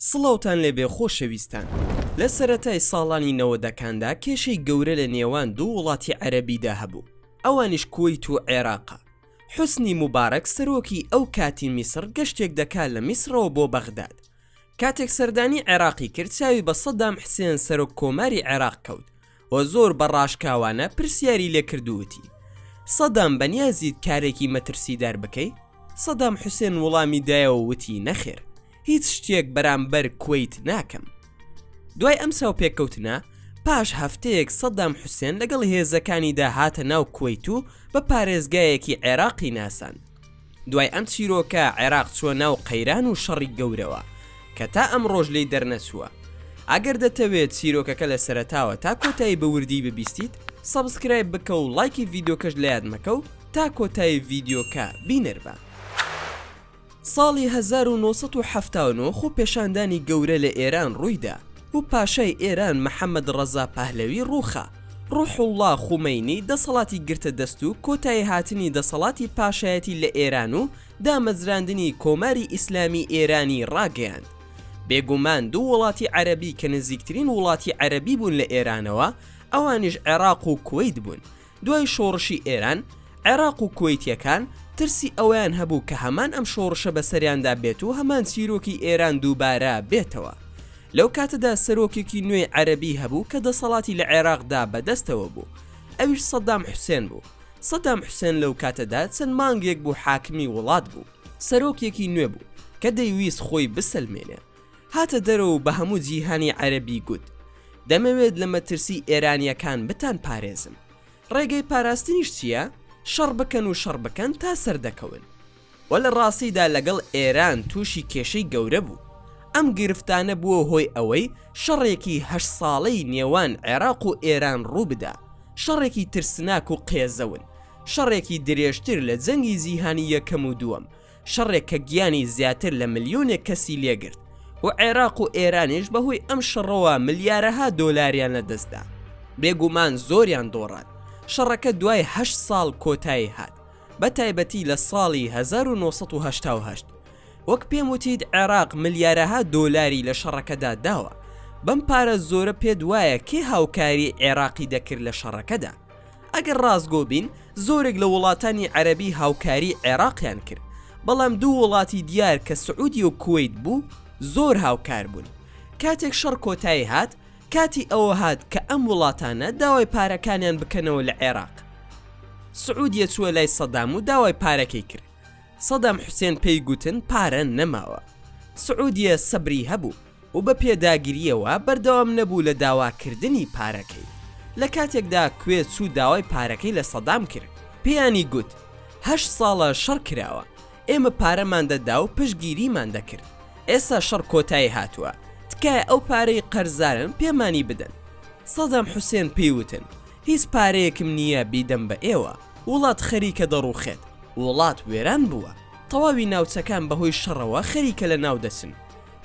سڵاوتان لێبێ خۆشەویستان لە سەرەتای ساڵانی نەوەدەکاندا کێشەی گەورە لە نێوان دوو وڵاتی عەرەبیدا هەبوو ئەوانیش کوەیت و عێراقە حوسنی موبارەک سەرۆکی ئەو کاتی میسڕ گەشتێک دەکات لە میسڕەوە بۆ بەغداد کاتێک سەردانی عێراقی کرد چاوی بە سەدام حسێن سەرۆک کۆماری عێراق کەوت و زۆر بە ڕاشکاوانە پرسیاری لێ کردووتی سەدام بەنیازیت کارێکی مەترسیدار بکەی؟ سەدام حوسێن وڵامی دایەوە وتی نەخێر هیچ شتێک بەرامبەر کوەیت ناکەم دوای ئەم چاوپێککەوتنە پاش هەفتەیەک سەدام حوسێن لەگەڵ هێزەکانیدا هاتە ناو کوەیت و بە پارێزگایەکی عێراقی ناساند دوای ئەم چیرۆکە عێراق چووە ناو قەیران و شەڕی گەورەوە کە تا ئەمڕۆش لێی دەرنەچووە. ئەگەر دەتەوێت چیرۆکەکە لە سەرەتاوە تا کۆتایی بە وردیی ببیستیت، سەبسکرایب بکە و ڵایکی ڤیدیۆکەش لەیاد مەکە و تا کۆتایی ڤیدیۆکە بینەر بە. ساڵی هەزار و نۆ سەد و حەفتا و نۆ خۆپێشاندانی گەورە لە ئێران ڕوویدا، و پاشای ئێران محەمەد ڕەزا پەهلەوی ڕووخا، ڕوحوڵڵا خومەینی دەسەڵاتی گرتە دەست و کۆتاییهاتنی دەسەڵاتی پاشایەتی لە ئێران و دامەزراندنی کۆماری ئیسلامی ئێرانی ڕاگەیاند. بێگومان دوو وڵاتی عەرەبی کە نزیکترین وڵاتی عەرەبی بوون لە ئێرانەوە ئەوانیش عێراق و کوەیت بوون، دوای شۆڕشی ئێران، عێراق و کوەیتییەکان ترسی ئەوەیان هەبوو کە هەمان ئەم شۆڕشە بەسەریاندا بێت و هەمان چیرۆکی ئێران دووبارە بێتەوە. لەو کاتەدا سەرۆکێکی نوێی عەرەبی هەبوو کە دەسەڵاتی لە عێراقدا بە دەستەوە بوو، ئەویش سەدام حوسێن بوو. سەدام حوسێن لەو کاتەدا چەند مانگێک بوو حاکمی وڵات بوو. سەرۆکێکی نوێ بوو کە دەیویست خۆی بسەلمێنێ. هاتە دەرەوە و بە هەموو جیهانی عەرەبی گوت، دەمەوێت لە مەترسی ئێرانییەکان بتانپارێزم. ڕێگەی پاراستنیش چییە؟ شەڕ بکەن و شەڕ بکەن تا سەردەکەون. وە لە ڕاستیدا لەگەڵ ئێران تووشی کێشەی گەورە بوو. ئەم گرفتانە بووە هۆی ئەوەی شەڕێکی هەشت ساڵەی نێوان عێراق و ئێران ڕوو بدا. شەڕێکی ترسناک و قێزەون. شەڕێکی درێژتر لە جەنگی جیهانی یەکەم و دووەم. شەڕێک کە گیانی زیاتر لە ملیۆنێک کەسی لێگرت و عێراق و ئێرانیش بەهۆی ئەم شەڕەوە ملیارەها دۆلاریان لە دەستدا بێگومان زۆریان دۆڕات شەڕەکە دوای هە ساڵ کۆتایی هات بە تایبەتی لە ساڵی 1970 وەک پێم وتیت عێراق ملیارەها دۆلاری لە شەڕەکەدا داوە بەم پارە زۆرە پێت وایە کێ هاوکاری عێراقی دەکرد لە شەڕەکەدا ئەگەر ڕاستگۆ بین زۆرێک لە وڵاتانی عەرەبی هاوکاری عێراقیان کرد بەڵام دوو وڵاتی دیار کە سعودی و کویت بوو زۆر هاوکار بوون کاتێک شەڕ کۆتایی هات کاتی ئەوە هات کە ئەم وڵاتانە داوای پارەکانیان بکەنەوە لە عێراق سعودیە چووە لای سەدام و داوای پارەکەی کرد سەدام حوسێن پێی گوتن پارە نەماوە سعودیە سەبری هەبوو و بە پێداگرییەوە بەردەوام نەبوو لە داواکردنی پارەکەی، لە کاتێکدا کوێت چوو داوای پارەکەی لە سەدام کرد، پێیانی گوت، هەشت ساڵە شەڕ کراوە، ئێمە پارەمان دەدا و پشتگیریمان دەکرد، ئێستا شەڕ کۆتایی هاتووە، تکایە ئەو پارەی قەرزارن پێمانی بدەن. سەدام حوسێن پێی وتن، هیچ پارەیەکم نییە بیدەم بە ئێوە، وڵات خەریکە دەڕووخێت، وڵات وێران بووە، تەواوی ناوچەکان بەهۆی شەڕەوە خەریکە لەناو دەچن،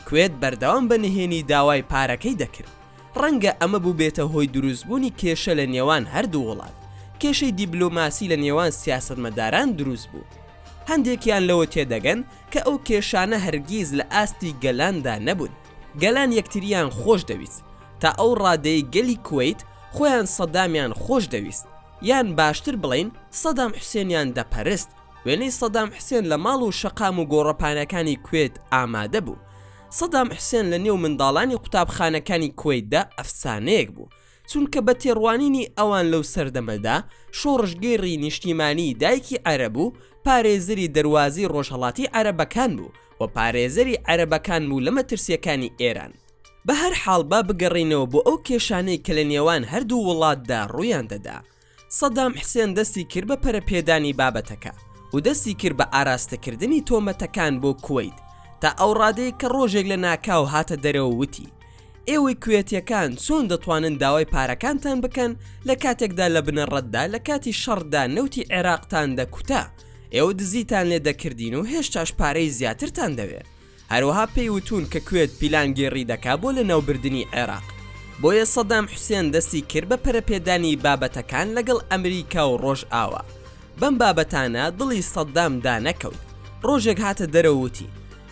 کوێت بەردەوام بە نهێنی داوای پارەکەی دەکرد، ڕەنگە ئەمە بووبێتە هۆی دروستبوونی کێشە لە نێوان هەردوو وڵات، کێشەی دیبلۆماسی لە نێوان سیاسەتمەداران دروست بوو. هەندێکیان لەوە تێدەگەن کە ئەو کێشانە هەرگیز لە ئاستی گەلاندا نەبوون، گەلان یەکتریان خۆش دەویست، تا ئەو ڕادەیەی گەلی کوەیت خۆیان سەدامیان خۆش دەویست، یان باشتر بڵێین سەدام حوسێنیان دەپەرست، وێنەی سەدام حسێن لە ماڵ و شەقام و گۆڕەپانەکانی کوێت ئامادە بوو. سەدام حسێن لە نێو منداڵانی قوتابخانەکانی کوەیتدا ئەفسانەیەک بوو، چونکە بە تێڕوانینی ئەوان لەو سەردەمەدا شۆڕشگێڕی نیشتیمانیی دایکی عەرەب و پارێزەری دەروازەی ڕۆژهەڵاتی عەرەبەکان بوو و پارێزەری عەرەبەکان بوو لە مەترسییەکانی ئێران. بەهەرحاڵ با بگەڕێینەوە بۆ ئەو کێشانەی کە لە نێوان هەردوو وڵاتدا ڕوویان دەدا. سەدام حسێن دەستی کرد بە پەرەپێدانی بابەتەکە و دەستی کرد بە ئاراستەکردنی تۆمەتەکان بۆ کوەیت تا ئەو ڕادەی کە ڕۆژێک لە ناکاو هاتە دەرەوە وتی ئێوەی کوێتیەکان چۆن دەتوانن داوای پارەکانتان بکەن لە کاتێکدا لە بنەڕەتدا لە کاتی شەڕدا نەوتی عێراقتان دەکوتا ئێوە دزیتان لێ دەکردین و هێشتاش پارەی زیاترتان دەوێ هەروەها پێی وتوون کە کوێت پیلانگێڕی دەکا بۆ لەناوبردنی عێراق، بۆیە سەدام حوسێن دەستی کرد بە پەرەپێدانی بابەتەکان لەگەڵ ئەمریکا و ڕۆژئاوا. بەم بابەتانە دڵی سەدام دانەکەوت، ڕۆژێک هاتە دەرەوە وتی،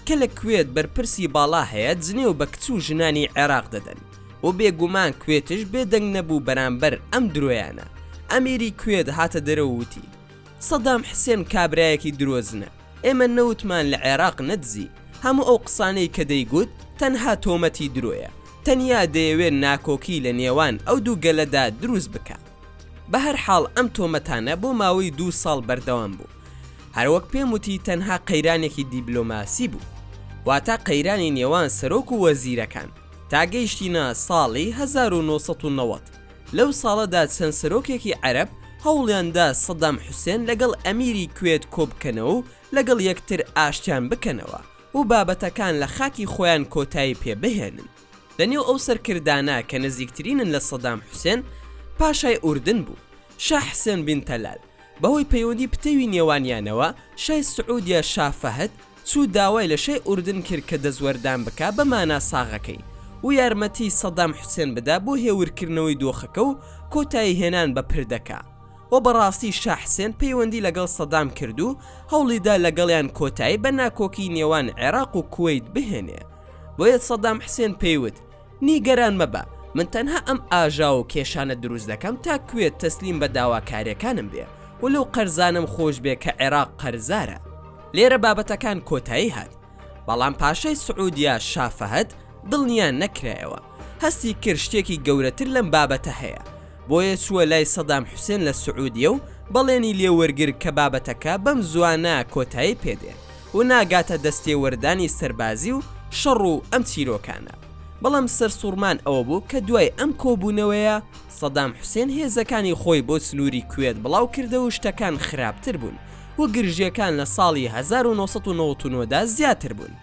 کە لە کوێت بەرپرسی باڵا هەیە جنێو بە کچ و ژنانی عێراق دەدەن و بێگومان کوێتش بێدەنگ نەبوو بەرامبەر ئەم درۆیانە. ئەمیری کوێت هاتە دەرەوە وتی، سەدام حسێن کابرایەکی درۆزنە. ئێمە نەوتمان لە عێراق نەدزی. هەموو ئەو قسانەی کە دەیگوت تەنها تۆمەتی درۆیە، تەنیا دەیەوێت ناکۆکی لە نێوان ئەو دوو گەلەدا دروست بکات. بە هەر حاڵ ئەم تۆمەتانە بۆ ماوەی دوو ساڵ بەردەوام بوو. هەر وەک پێم وتی تەنها قەیرانێکی دیبلۆماسی بوو. واتە قەیرانی نێوان سەرۆک و وەزیرەکان. تا گەیشتینە ساڵی هەزار و نۆ سەد و نەوەد. لەو ساڵەدا چەند سەرۆکێکی عەرەب هەوڵیان دا سەدام حوسێن لەگەڵ ئەمیری کوێت کۆبکەنەوە و لەگەڵ یەکتر ئاشتیان بکەنەوە و بابەتەکان لە خاکی خۆیان کۆتایی پێ بهێنن. لە نێو ئەو سەرکردانە کە نزیکترینن لە سەدام حوسێن، پاشای ئوردن بوو، شا حسێن بن تەلال، بەهۆی پەیوەندی پتەوی نێوانیانەوە، شای سعودیە شا فەهد، چوو داوای لە شای ئوردن کرد کە دەستوەردان بکا بە مانا ساغەکەی و یارمەتیی سەدام حوسێن بدا بۆ هێورکردنەوەی دۆخەکە و کۆتایی هێنان بە پردەکە و بەڕاستی شا حسێن پەیوەندی لەگەڵ سەدام کرد و هەوڵی دا لەگەڵیان کۆتایی بە ناکۆکیی نێوان عێراق و کوەیت بهێنێ بۆیە سەدام حسێن پێی وت نیگەران مەبە من تەنها ئەم ئاژاو و کێشانە دروست دەکەم تا کوێت تەسلیم بە داواکاریەکانم بێ و لەو قەرزانەم خۆش بێ کە عێراق قەرزارە لێرە بابەتەکان کۆتایی هات بەڵام پاشای سعودیا شا فەهد دڵنیا نەکرایەوە هەستی کرد شتێکی گەورەتر لەم بابەتە هەیە بۆیە چووە لای سەدام حوسێن لە سعودیە و بەڵێنی لێوەرگر کە بابەتەکە بەم زوانە کۆتایی پێدێ و ناگاتە دەستێوەردانی سەربازی و شەڕ و ئەم چیرۆکانە، بەڵام سەرسوڕمان ئەوە بوو کە دوای ئەم کۆبوونەوەیە سەدام حوسێن هێزەکانی خۆی بۆ سنووری کوێت بڵاو کردەوە و شتەکان خراپتر بوون و گرژییەکان لە ساڵی هەزار و نۆ سەد و نەوەد و نۆ دا زیاتر بوون.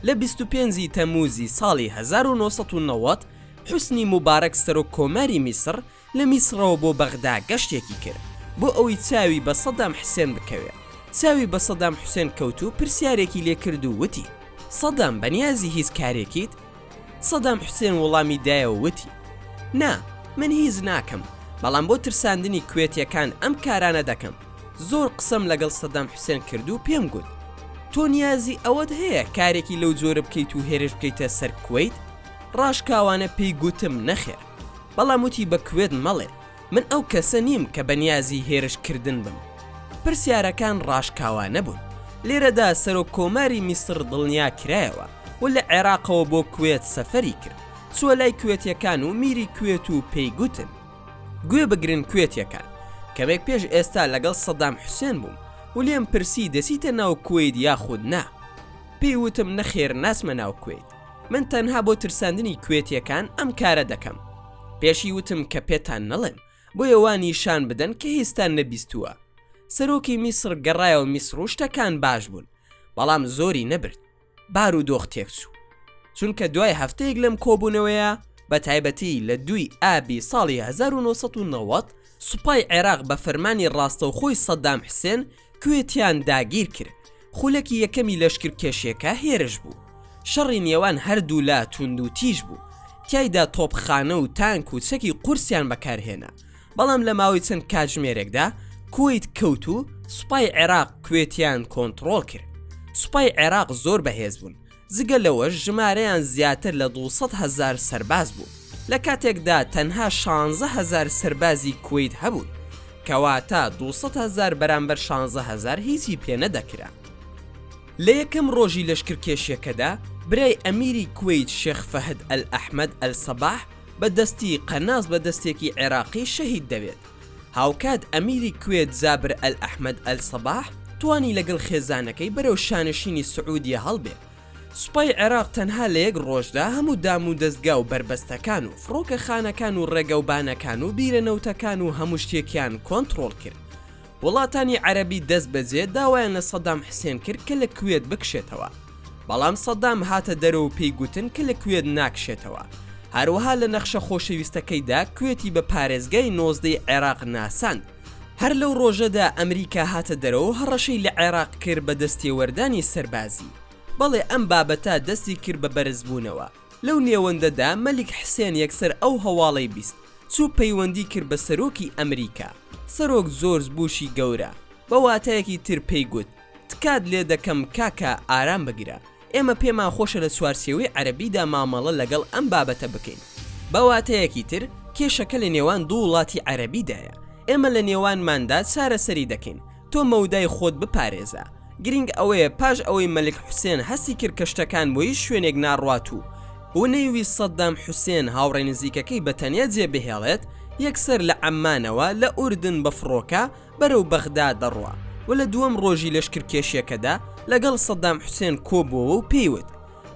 لە بیست و پێنج ی تەمووزی ساڵی هەزار و نۆ سەد و نەوەد حوسنی موبارەک سەرۆک کۆماری میسڕ، لە میسڕەوە بۆ بەغدا گەشتێکی کرد بۆ ئەوەی چاوی بە سەدام حسێن بکەوێت، چاوی بە سەدام حسێن کەوت و پرسیارێکی لێ کرد و وتی، سەدام بەنیازی هیچ کارێکیت؟ سەدام حسێن وڵامی دایەوە وتی، نا، من هیچ ناکەم، بەڵام بۆ ترساندنی کوێتییەکان ئەم کارانە دەکەم، زۆر قسەم لەگەڵ سەدام حسێن کرد و پێم گوت، تۆ نیازی ئەوەت هەیە کارێکی لەو جۆرە بکەیت و هێرش بکەیتە سەر کوەیت؟ ڕاشکاوانە پێی گوتم، نەخێر. بەڵام وتی بە کوێت مەڵێ من ئەو کەسە نیم کە بەنیازی هێرش کردن بم. پرسیارەکان ڕاشکاوانە بوون. لێرەدا سەرۆک کۆماری میسڕ دڵنیا کرایەوە و لە عێراقەوە بۆ کوێت سەفەری کرد، چووە لای کوێتیەکان و میری کوێت و پێی گوتن. گوێ بگرن کوێتیەکان، کەمێک پێش ئێستا لەگەڵ سەدام حوسێن بووم و لێم پرسی دەچیتە ناو کوەیت یاخود نا؟ پێی وتم نەخێر ناچمە ناو کوەیت. من تەنها بۆ ترساندنی کوێتیەکان ئەم کارە دەکەم پێشی وتم کە پێتان نەڵێم بۆیە وا نیشان بدەن کە هیستان نەبیستووە سەرۆکی میسر گەڕایەوە میسر و شتەکان باش بوون بەڵام زۆری نەبرد بار و دۆخ تێکچوو چونکە دوای هەفتەیەک لەم کۆبوونەوەیە بە تایبەتی لە دوی ئابی ساڵی 1990 سوپای عێراق بە فەرمانی ڕاستەوخۆی سەددام حسێن کوێتیان داگیر کرد، خولەکی یەکەمی لەشکرکێشیەکە هێرش بوو، شەڕی نێوان هەردوولا توندوتیژ بوو، تیایدا تۆپخانە و تانک و چەکی قورسیان بەکارهێنا، بەڵام لە ماوەی چەند کاتژمێرێکدا کوەیت کەوت و سوپای عێراق کوێتیان کۆنتڕۆڵ کرد، سوپای عێراق زۆر بەهێز بوون، جگە لەوەش ژمارەیان زیاتر لە دوو سەد هەزار سەرباز بوو، لە کاتێکدا تەنها شانزە هەزار سەربازی کوەیت هەبوون، کەواتە دوو سەد هەزار بەرامبەر شانزە هەزار هیچی پێ نەدەکرا. لە یەکەم ڕۆژی لەشکرکێشیەکەدا برای ئەمیری کوەیت شێخ فەهد ئەل ئەحمەد ئەل سەباح بە دەستی قەناس بە دەستێکی عێراقی شەهید دەبێت. هاوکات ئەمیری کوێت جابر ئەل ئەحمەد ئەل سەباح توانی لەگەڵ خێزانەکەی بەرەو شانشینی سعودیە هەڵبێت. سوپای عێراق تەنها لە یەک ڕۆژدا هەموو دامودەزگا و بەربەستەکان و فڕۆکەخانەکان و ڕێگەوبانەکان و بیرە نەوتەکان و هەموو شتێکیان کۆنتڕۆڵ کرد. وڵاتانی عەرەبی دەستبەجێ داوایان لە سەدام حسێن کرد کە لە کوێت بکشێتەوە. بەڵام سەدام هاتە دەرەوە و پێی گوتن کە لە کوێت ناکشێتەوە. هەروەها لە نەخشە خۆشەویستەکەیدا کوێتی بە پارێزگای نۆزدەی عێراق ناساند. هەر لەو ڕۆژەدا ئەمریکا هاتە دەرەوە و هەڕەشەی لە عێراق کرد بە دەستێوەردانی سەربازی. بەڵێ ئەم بابەتە دەستی کرد بە بەرزبوونەوە. لەو نێوەندەدا مەلیک حسێن یەکسەر ئەو هەواڵەی بیست، چوو پەیوەندی کرد بە سەرۆکی ئەمریکا، سەرۆک جۆرج بوشی گەورە، بە واتایەکی تر پێی گوت، تکات لێ دەکەم کاکە ئارام بگرە ئێمە پێمان خۆشە لە چوارچێوەی عەرەبیدا مامەڵە لەگەڵ ئەم بابەتە بکەین بە واتەیەکی تر کێشەکە لە نێوان دوو وڵاتی عەرەبیدایە ئێمە لە نێوانماندا چارەسەری دەکەین تۆ مەودای خۆت بپارێزە گرنگ ئەوەیە پاش ئەوەی مەلک حوسێن هەستی کرد کە شتەکان بۆ هیچ شوێنێک ناڕوات و و نەیویست سەددام حوسێن هاوڕێ نزیکەکەی بە تەنیا جێبهێڵێت یەکسەر لە عەممانەوە لە ئوردن بە فڕۆکە بەرەو بەغدا دەڕوا و لە دووەم ڕۆژی لەشکرکێشیەکەدا لەگەڵ سەدام حوسێن کۆبۆوە و پێی وت،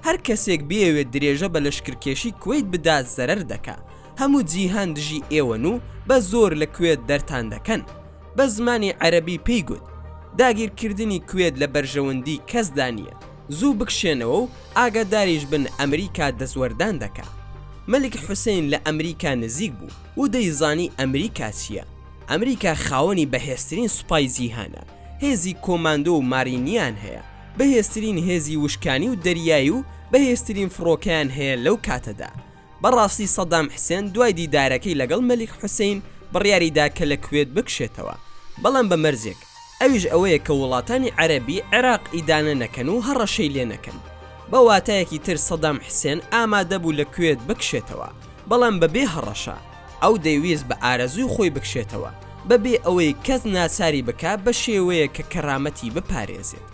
هەر کەسێک بیەوێت درێژە بە لەشکرکێشی کوەیت بدات زەرەر دەکا، هەموو جیهان دژی ئێوەن و بە زۆر لە کوێت دەرتان دەکەن. بە زمانی عەرەبی پێی گوت، داگیرکردنی کوێت لە بەرژەوەندی کەسدا نییە، زوو بکشێنەوە و ئاگاداریش بن ئەمریکا دەستوەردان دەکا. مەلیک حوسەین لە ئەمریکا نزیک بوو و دەیزانی ئەمریکا چییە. ئەمریکا خاوەنی بەهێزترین سوپای جیهانە، هێزی کۆماندۆ و مارینیان هەیە، بەهێزترین هێزی وشکانی و دەریایی و بەهێزترین فڕۆکەیان هەیە لەو کاتەدا. بەڕاستی سەدام حسێن دوای دیدارەکەی لەگەڵ مەلیک حوسەین بڕیاریدا کە لە کوێت بکشێتەوە، بەڵام بە مەرجێک، ئەویش ئەوەیە کە وڵاتانی عەرەبی عێراق ئیدانە نەکەن و هەڕەشەی لێ نەکەن. بە واتایەکی تر سەدام حسێن ئامادە بوو لە کوێت بکشێتەوە، بەڵام بە بێ هەڕەشە. ئەو دەیویست بە ئارەزووی خۆی بکشێتەوە، بە بێ ئەوەی کەس ناچاری بکا بە شێوەیەک کە کەرامەتی بپارێزێت.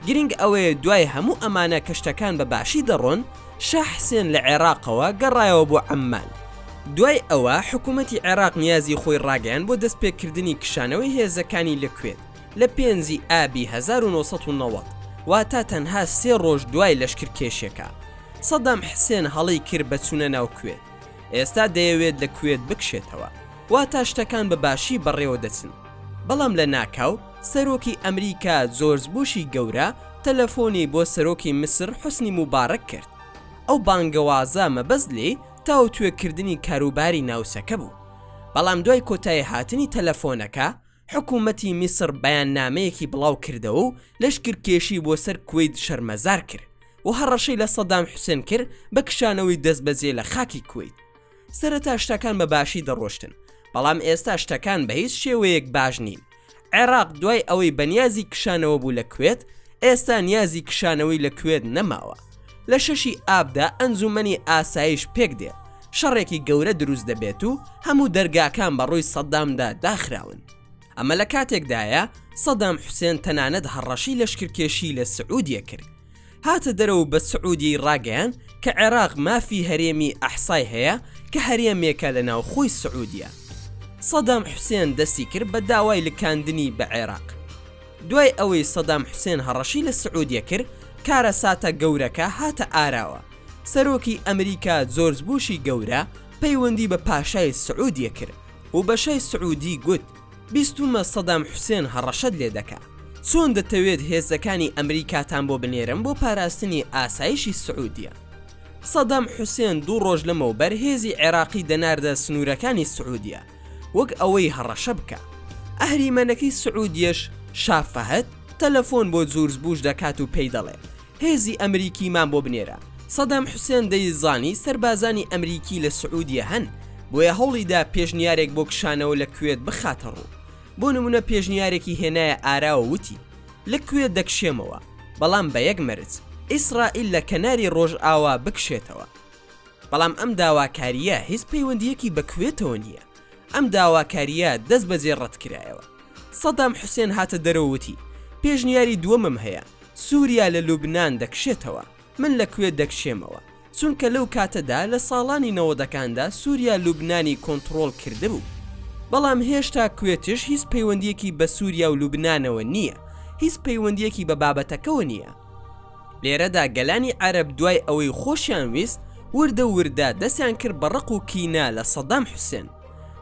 گرنگ ئەوەیە دوای هەموو ئەمانە کە شتەکان بە باشی دەڕۆن، شا حسێن لە عێراقەوە گەڕایەوە بۆ عەممان. دوای ئەوە حکوومەتی عێراق نیازی خۆی ڕاگەیاند بۆ دەستپێکردنی کشانەوەی هێزەکانی لە کوێت لە پێنجی ئابی هەزار و نۆ سەد و نەوەد، واتە تەنها سێ ڕۆژ دوای لەشکرکێشیەکە. سەدام حسێن هەڵەی کرد بە چوونە ناو کوێت. ئێستا دەیەوێت لە کوێت بکشێتەوە. واتە شتەکان بە باشی بەڕێوە دەچن. بەڵام لە ناکاو. سەرۆکی ئەمریکا جۆرج بوشی گەورە تەلەفۆنی بۆ سەرۆکی میسر حوسنی موباڕەک کرد، ئەو بانگەوازە مەبەست لێی تاوتوێکردنی کاروباری ناوچەکە بوو، بەڵام دوای کۆتاییهاتنی تەلەفۆنەکە، حکومەتی میسر بەیاننامەیەکی بڵاوکردەوە و لەشکرکێشی بۆ سەر کوەیت شەرمەزار کرد و هەڕەشەی لە سەدام حوسێن کرد بە کشانەوەی دەستبەجێ لە خاکی کوەیت. سەرەتا شتەکان بە باشی دەڕۆشتن بەڵام ئێستا شتەکان بە هیچ شێوەیەک باش نین عێراق دوای ئەوەی بەنیازی کشانەوە بوو لە کوێت ئێستا نیازی کشانەوەی لە کوێت نەماوە لە شەشی ئابدا ئەنجومەنی ئاسایش پێک دێ شەڕێکی گەورە دروست دەبێت و هەموو دەرگاکان بە ڕووی سەددامدا داخراون ئەمە لە کاتێکدایە سەدام حوسێن تەنانەت هەڕەشی لەشکرکێشی لە سعودیە کرد هاتە دەرەوە بە سعودیەی ڕاگەیان کە عێراق مافی هەرێمی ئەحسای هەیە کە هەرێمێکە لە ناوخۆی سعودیە سەدام حوسێن دەستی کرد بە داوای لکاندنی بە عێراق دوای ئەوەی سەدام حوسێن هەڕەشی لە سعودیە کرد کارە ساتە گەورەکە هاتە ئاراوە سەرۆکی ئەمریکا جۆرج بوشی گەورە پەیوەندی بە پاشای سعودیە کرد و بەشای سعودی گوت بیستومە سەدام حوسێن هەڕەشەت لێ دەکا. چۆن دەتەوێت هێزەکانی ئەمریکاتان بۆ بنێرم بۆ پاراستنی ئاسایشی سعودیە؟ سەدام حوسێن دوو ڕۆژ لەمەوبەر هێزی عێراقی دەناردە سنوورەکانی سعودیە وەک ئەوەی هەڕەشە بکا. ئەهریمەنەکەی سعودیەش شا فەهد تەلەفۆن بۆ جورج بوش دەکات و پێی دەڵێ هێزی ئەمریکی مان بۆ بنێرە. سەدام حوسێن دەیزانی سەربازانی ئەمریکی لە سعودیە هەن، بۆیە هەوڵی دا پێشنیارێک بۆ کشانەوە لە کوێت بخاتە ڕوو. بۆ نمونە پێشنیارێکی هێنایە ئاراوە وتی، لە کوێت دەکشێمەوە، بەڵام بە یەک مەرج، ئیسرائیل لە کەناری ڕۆژئاوا بکشێتەوە. بەڵام ئەم داواکارییە هیچ پەیوەندییەکی بە کوێتەوە نییە. ئەم داواکارییە دەستبەجێ ڕەتکرایەوە. سەدام حوسێن هاتە دەرەوە وتی، پێشنیاری دووەمم هەیە، سووریا لە لوبنان دەکشێتەوە، من لە کوێت دەکشێمەوە، چونکە لەو کاتەدا لە ساڵانی نەوەدەکاندا سووریا لوبنانی کۆنتڕۆڵ کردبوو. بەڵام هێشتا کوێتش هیچ پەیوەندییەکی بە سووریا و لوبنانەوە نییە، هیچ پەیوەندییەکی بە بابەتەکەوە نییە. لێرەدا گەلانی عەرەب دوای ئەوەی خۆشیان ویست وردە وردە دەستیان کرد بە ڕق و کینە لە سەدام حوسێن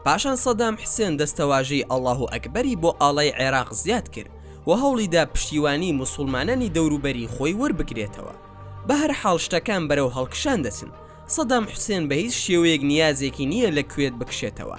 پاشان سەدام حسێن دەستەواژەی اللە اکبری بۆ ئاڵای عێراق زیاد کرد و هەوڵیدا پشتیوانی موسوڵمانانی دەوروبەری خۆی وەربگرێتەوە بەهەرحاڵ شتەکان بەرەو هەڵکشان دەچن سەدام حسێن بە هیچ شێوەیەک نیازێکی نییە لە کوێت بکشێتەوە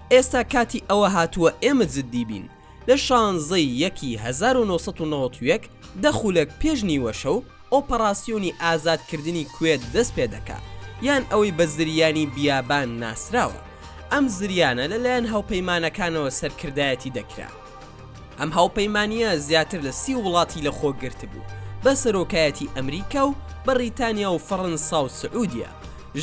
ئێستا کاتی ئەوە هاتووە ئێمە جددی بین. لە شانزەی یەکی هەزار و نۆ سەد و نەوەد و یەک، دە خولەک پێش نیوەشەو، ئۆپەڕاسیۆنی ئازادکردنی کوێت دەست پێ دەکا، یان ئەوەی بە زریانی بیابان ناسراوە. ئەم زریانە لەلایەن هاوپەیمانەکانەوە سەرکردایەتی دەکرا. ئەم هاوپەیمانییە زیاتر لە سی وڵاتی لە خۆ گرتبوو بە سەرۆکایەتی ئەمریکا و بەڕیتانیا و فەڕەنسا و سعودیە،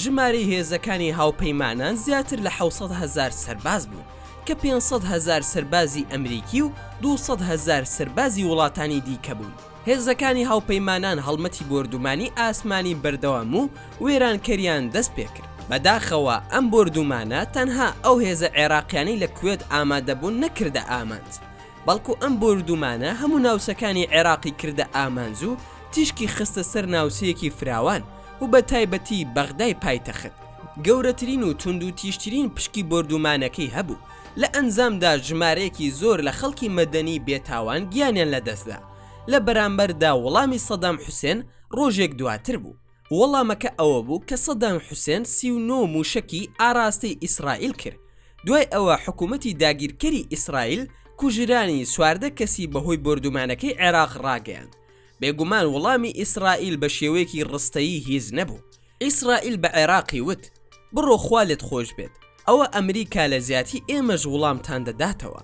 ژمارەی هێزەکانی هاوپەیمانان زیاتر لە حەوت سەد هەزار سەرباز بوون کە پێنج سەد هەزار سەربازی ئەمریکی و دوو سەد هەزار سەربازی وڵاتانی دیکە بوون. هێزەکانی هاوپەیمانان هەڵمەتی بۆردومانی ئاسمانی بەردەوام و وێرانکەریان دەست پێکرد، بەداخەوە ئەم بۆردومانە تەنها ئەو هێزە عێراقیانەی لە کوێت ئامادەبوون نەکردە ئامانج، بەڵکو ئەم بۆردومانە هەموو ناوچەکانی عێراقی کردە ئامانج و تیشکی خستە سەر ناوچەیەکی فراوان و بەتایبەتی بەغدای پایتەخت، گەورەترین و توندوتیژترین پشکی بۆردومانەکەی هەبوو. لە ئەنجامدا ژمارەیەکی زۆر لە خەڵکی مەدەنی بێتاوان گیانیان لەدەستدا، لە بەرامبەردا وەڵامی سەدام حوسێن ڕۆژێک دواتر بوو، وەڵامەکە ئەوەبوو کە سەدام حوسێن سی و نۆ مووشەکی ئاراستەی ئیسرائیل کرد، دوای ئەوە حکومەتی داگیرکەری ئیسرائیل کوژرانی چواردە کەسی بەهۆی بۆردومانەکەی عێراق ڕاگەیاند، بێگومان وەڵامی ئیسرائیل بەشێوەیەکی ڕستەیی هیچ نەبوو، ئیسرائیل بە عێراقی وت بڕۆ خوا لێت خۆش بێت ئەوە ئەمریکا لە زیاتی ئێمەش وڵامتان دەداتەوە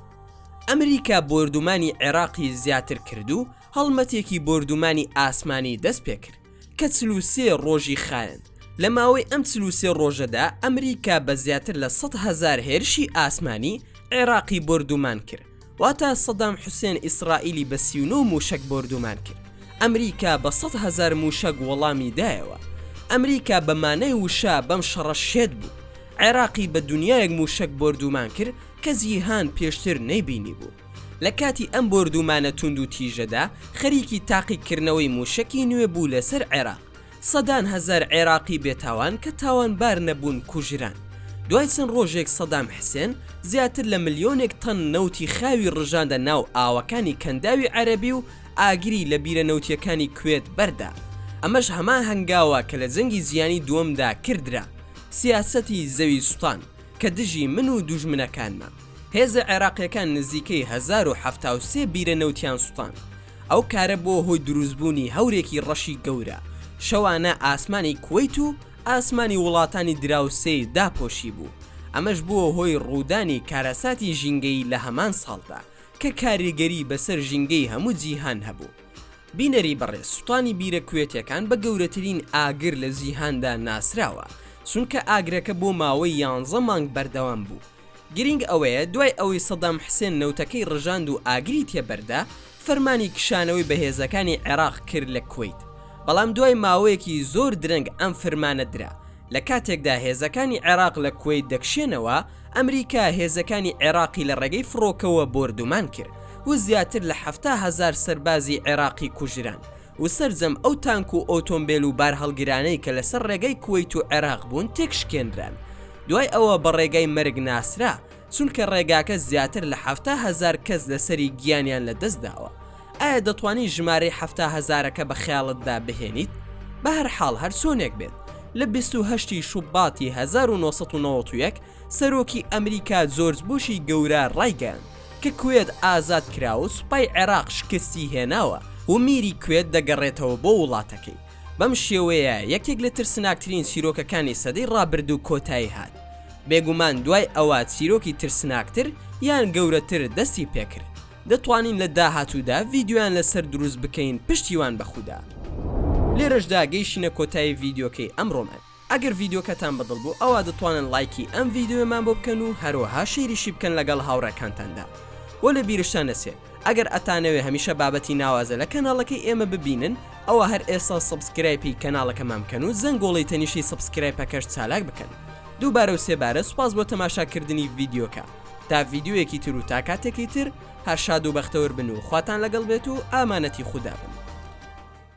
ئەمریکا بۆردومانی عێراقی زیاتر کرد و هەڵمەتێکی بۆردومانی ئاسمانی دەست پێکرد کە چل و سێ ڕۆژی خایەند لە ماوەی ئەم چل و سێ ڕۆژەدا ئەمریکا بە زیاتر لە سەد هەزار هێرشی ئاسمانی عێراقی بۆردومان کرد واتە سەدام حوسێن ئیسڕائیلی بە سی و نۆ مووشەک بۆردومان کرد ئەمریکا بە سەد هەزار مووشەک وەڵامی دایەوە ئەمریکا بە مانای وشە بەم شەڕە شێت بوو عێراقی بە دونیایەک مووشەک بۆردومان کرد کە جیهان پێشتر نەیبینی بوو لە کاتی ئەم بۆردومانە توندوتیژەدا خەریکی تاقیکردنەوەی مووشەکی نوێ بوو لەسەر عێراق سەدان هەزار عێراقی بێتاوان کە تاوانبار نەبوون کوژران. دوای چەند ڕۆژێک سەدام حسێن زیاتر لە ملیۆنێک تەن نەوتی خاوی ڕژاندە ناو ئاوەکانی کەنداوی عەرەبی و ئاگری لە بیرە نەوتییەکانی کوێت بەردا. ئەمەش هەمان هەنگاوە کە لە جەنگی جیهانی دووەمدا کردرا. سیاسەتی زەوی سوتان کە دژی من و دوژمنەکانمە. هێزە عێراقییەکان نزیکەی هەزار و حەفتا و سێ بیرە نەوتیان سوتاند. ئەو کارە بووە هۆی دروستبوونی هەورێکی ڕەشی گەورە، شەوانە ئاسمانی کوەیت و ئاسمانی وڵاتانی دراوسێی داپۆشیبوو، ئەمەش بووە هۆی ڕوودانی کارەساتی ژینگەیی لە هەمان ساڵدا، کە کاریگەری بەسەر ژینگەی هەموو جیهان هەبوو. بینەری بەڕێز سوتانی بیرە کوێتیەکان بە گەورەترین ئاگر لە جیهاندا ناسراوە، چونکە ئاگرەکە بۆ ماوەی یانزە مانگ بەردەوام بوو، گرینگ ئەوەیە دوای ئەوەی سەدام حسێن نەوتەکەی ڕژاند و ئاگری تێ بەردا، فەرمانی کشانەوەی بەهێزەکانی عێراق کرد لە کوەیت، بەڵام دوای ماوەیەکی زۆر درەنگ ئەم فەرمانە درا، لە کاتێکدا هێزەکانی عێراق لە کوەیت دەکشێنەوە، ئەمریکا هێزەکانی عێراقی لە ڕێگەی فڕۆکەوە بۆردومان کرد و زیاتر لە حەفتا هەزار سەربازی عێراقی کوژران و سەرجەم ئەو تانک و ئۆتۆمبێل و بارهەڵگرانەی کە لەسەر ڕێگەی کوەیت و عێراق بوون تێکشکێنران دوای ئەوە بە ڕێگای مەرگ ناسرا چونکە ڕێگاکە زیاتر لە حەفتا هەزار کەس لەسەری گیانیان لەدەست داوە ئایا دەتوانی ژمارەی حەفتا هەزارەکە بە خەیاڵتدا بهێنیت بەهەرحاڵ هەرچۆنێک بێت لە بیست و هەشت ی شوباتی هەزار و نۆ سەد و نەوەد و یەک سەرۆکی ئەمریکا جۆرج بوشی گەورە ڕایگەیاند کە کوێت ئازاد کراوە سوپای عێراق شکستی هێناوە و میری کوێت دەگەڕێتەوە بۆ وڵاتەکەی. بەم شێوەیە یەکێک لە ترسناکترین چیرۆکەکانی سەدەی ڕابردوو کۆتایی هات. بێگومان دوای ئەوە چیرۆکی ترسناکتر یان گەورەتر دەستی پێکرد. دەتوانین لە داهاتوودا ڤیدیۆیان لەسەر دروست بکەین پشتیوان بەخودا. لێرەشدا گەیشتینە کۆتایی ڤیدیۆکەی ئەمڕۆمان. ئەگەر ڤیدیۆکەتان بە دڵ بوو ئەوا دەتوانن ڵایکی ئەم ڤیدیۆیەمان بۆ بکەن و هەروەها شەیریشی بکەن لەگەڵ هاوڕێکانتاندا و لە بیرشتان نەچێ ئەگەر ئەتانەوێ هەمیشە بابەتی ناوازە لە کەناڵەکەی ئێمە ببینن ئەوا هەر ئێستا سەبسکرایپی کەناڵەکەمان بکەن و زەنگۆڵەی تەنیشتی سەبسکرایپەکەش چالاک بکەن دووبارە و سێبارە سوپاس بۆ تەماشاکردنی ڤیدیۆکە تا ڤیدیۆیەکی تر و تا کاتێکی تر هەر شاد و بەختەوەر بن و خواتان لەگەڵ بێت و ئامانەتی خودا بن.